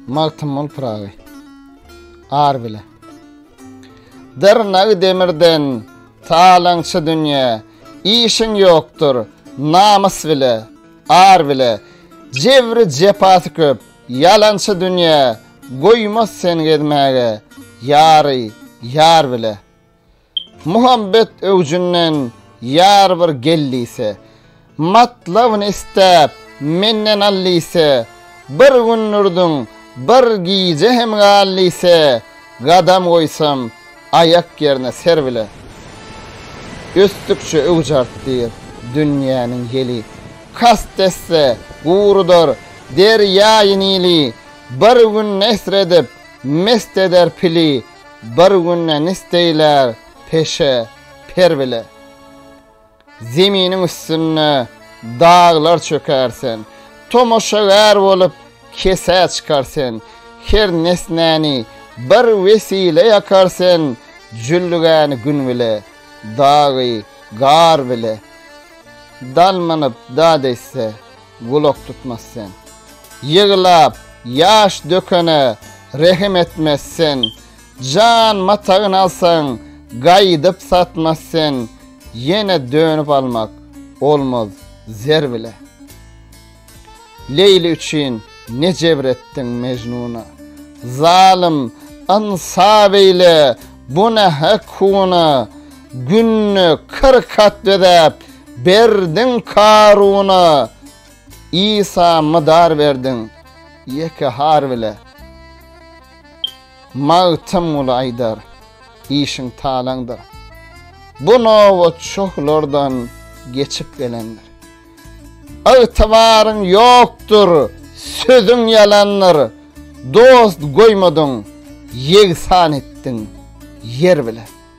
Magtymguly Pyragy Ar bile Dyrnagy demirden Talaňçy dünýä Işiň ýokdur Namys bile Ar bile Jebri jepasy köp Ýalançy dünýä Goýmaz sen gezmäge Ýary ýar bile. Muhabbet öwjünden ýar bir gel diýse, Matlabyny isläp, menden al diýse, Bir gün durduň, bir gije hem gal diýse, Gadam goýsam, aýak ýerine ser bile. Ösdükçe öwüj artdyr dünýäniň ýeli, Kast etse, gurudar derýaýy Nili, Bir gün nesr edip, mest eder pili, Bir günde nisteýler peşe, per bile. Zeminiň üstünde daglar çöker sen. Tomaşagär bolup kesä çykar sen. Her nesnäni bir wesile ýakar sen, Jüllügäni gün bile, dagy gar bile. Dal mynyp dad etse. gulak tutmaz sen. Ýyglap, ýaş dökene rehim etmez sen. Jan matagyn alsaň, gaýdyp satmaz sen. Ýene dönüp almak olmaz zer bile. Leýli üçin ne jebr etdiň Mejnuna. Zalym, ynsa beýle, bu ne hek huna. Günde kyrk hat bezäp berdiň Karuna, Isa mydar berdiň ýeke har bile. Magtymguly aýdar, işiň talaňdyr. Bu nobat şohlardan geçip gelendir. Ygtybaryň ýokdur, sözüň ýalandyr, Dost goýmadyň, ýegsan etdiň ýer bile.